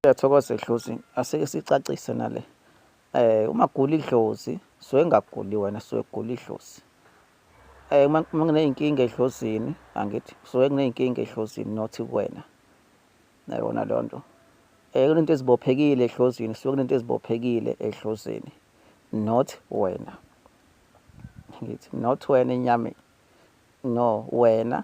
Siyathokoza Dlozi, asike sicacise nale. Eh uma gula idlozi, so engaguli wena so egula idlozi. Eh uma ngineyinkinga edlozini, angithi so ngineyinkinga edlozini not kuwena. Nayona leyo nto. Eh kunento ezibophekile edlozini, so kunento ezibophekile edlozini not wena. Ngithi not wena enyameni. No wena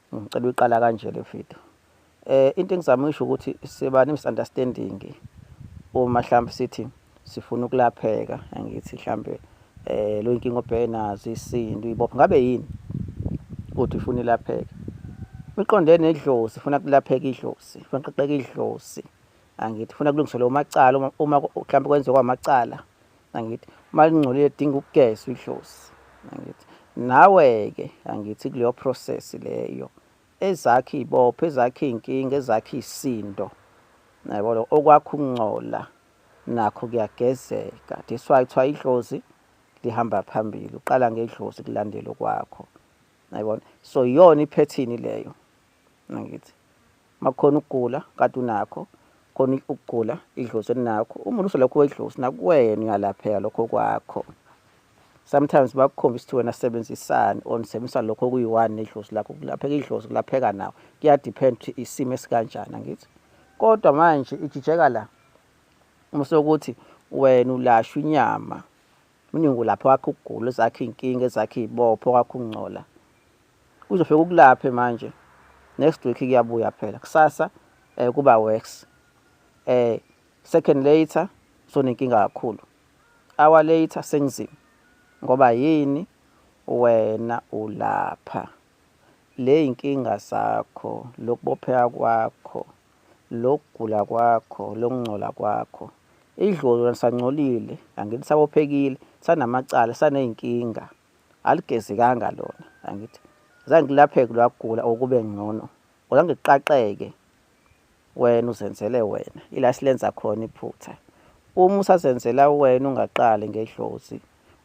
Ngicela uyiqala kanje le video. Eh into engizama usho ukuthi siba ne misunderstanding uma mhlawumbe sithi sifuna ukulapheka angithi mhlambe eh lo inkingo obheke nazo isinto ibopha ngabe yini uthi ufuna ilapheke uqonde nedlozi ufuna kulapheka idlozi ufuna qaqeka idlozi angithi ufuna kulungiswa lo macala uma mhlawumbe kwenziwa kwamacala angithi uma lingcolile dinga ukugeza idlozi angithi nawe-ke angithi kuleyo process leyo ezakhe iy'bopho ezakhe iy'nkinga ezakhe iy'sindo naybo lo okwakho ukungcola nakho kuyagezeka that's why kuthiwa idlozi lihamba phambili uqala ngedlozi kulandela okwakho nayibona so iyona iphethini leyo ngithi makukhona ukugula kade unakho khona ukugula idlozi elinakho uma uluso lakho wedlozi nakuwena uyalapheka lokho kwakho sometimes bakukhombisa ukuthi wena sebenzisani or nisebenzisa lokho okuyi-one nedlozi lakho kulapheka idlozi kulapheka nawo kuyadepend ukuthi isimo esikanjani angithi kodwa manje ijijeka la uma sokuthi wena ulashwa inyama uningi ulapha wakho ukugula ezakhe iy'nkinga ezakhe iy'bopho wakho ukungcola Uzofika ukulaphe manje. Next week kuyabuya phela. Kusasa eh kuba worse. Eh second later sonenkinga kakhulu. Hour later sengizima. Ngoba yini wena ulapha? Le inkinga zakho, lokubopheka kwakho, lokugula kwakho, lokungcola kwakho. Idlolo sancolile, angithi sabophekile, sanamacala, saney'nkinga. aligezekanga lona angithi zange ngilapheke lwagula okube ngcono uzange kuqaqeke wena uzenzele wena ila silenza khona iphutha uma usazenzela wena ungaqali ngedlozi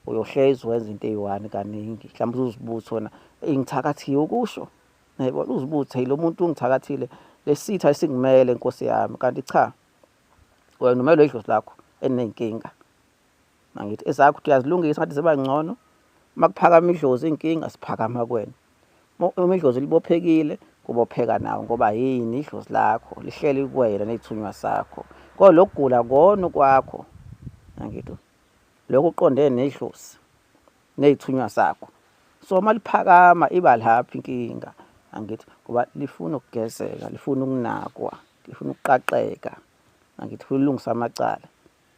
uyohlezi wenza into eyi-one kaningi mhlawumbe uzibuthi wona ngithakathiwe ukusho nayibona uzibuthi lo muntu ungithakathile lesitha esingimele nkosi yami kanti cha wena umelwe idlozi lakho enenkinga Mangithi ezakho ukuthi uyazilungisa ngathi ziba ngcono. Uma kuphakama idlozi inkinga siphakama kuwena. Uma idlozi libophekile kubopheka nawe ngoba yini idlozi lakho lihleli kuwena nethunywa sakho. Kodwa lokugula kona kwakho. Mangithi lokho uqonde nedlozi nezithunywa sakho. So uma liphakama iba lapho inkinga. Angithi ngoba lifuna ukugezeka, lifuna ukunakwa, lifuna ukuqaqeka. Angithi lifuna ukulungisa amacala.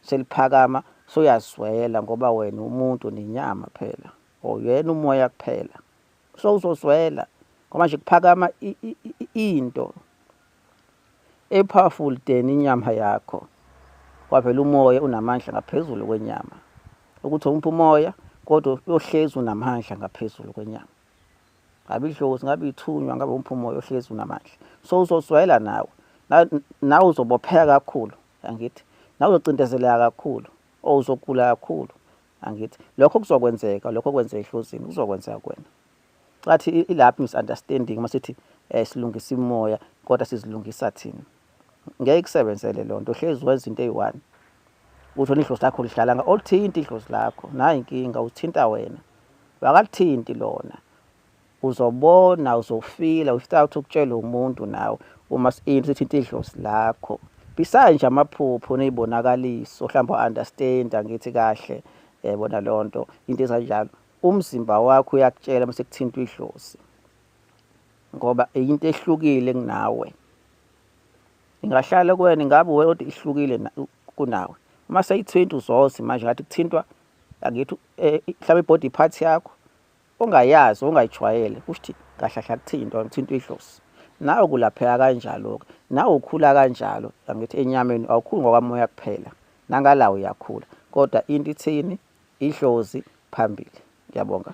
seliphakama soyazwela ngoba wena umuntu nenyama phela or yena umoya kuphela so uzozwela ngoba nje kuphakama into epowerful than inyama yakho wavela umoya unamandla ngaphezulu kwenyama ukuthi umpha umoya kodwa uyohlezi unamandla ngaphezulu kwenyama ngabe idlozi ngabe ithunywa ngabe umpha umoya ohlezi unamandla so uzozwela nawe nawe uzobopheka kakhulu angithi nawe uzocindezeleka kakhulu or uzogula kakhulu angithi lokho kuzokwenzeka lokho kwenze ehlozini kuzokwenzeka kuwena cathi ilapho misunderstanding uma sithi um silungisa imoya kodwa sizilungisa thina ngeke kusebenzele loo nto hlezi wenza into eyi-one uthole idlozi lakho lihlala nga olithinti idlozi lakho nayo inkinga uthinta wena wakalithinti lona uzobona uzofila without ukutshela umuntu nawe uma sini sithinta idlozi lakho besides nje amaphupho nezibonakaliso mhlawumbe understand angithi kahle yayibona eh, leyo nto into ezanjalo umzimba wakho uyakutshela uma sekuthintwa idlozi ngoba into ehlukile kunawe ingahlala kuwena ingabe wena kodwa ihlukile kunawe uma seyithinta uzozi manje ngathi kuthintwa angithi eh, mhlawumbe ibody part yakho ongayazi ongayijwayele kusho kahlahla kuthini into ngithintwa idlozi nawe kulapheka kanjalo-ke nawe ukhula kanjalo angithi enyameni awukhuli ngokwamoya kuphela nangala uyakhula kodwa into ithini idlozi phambili ngiyabonga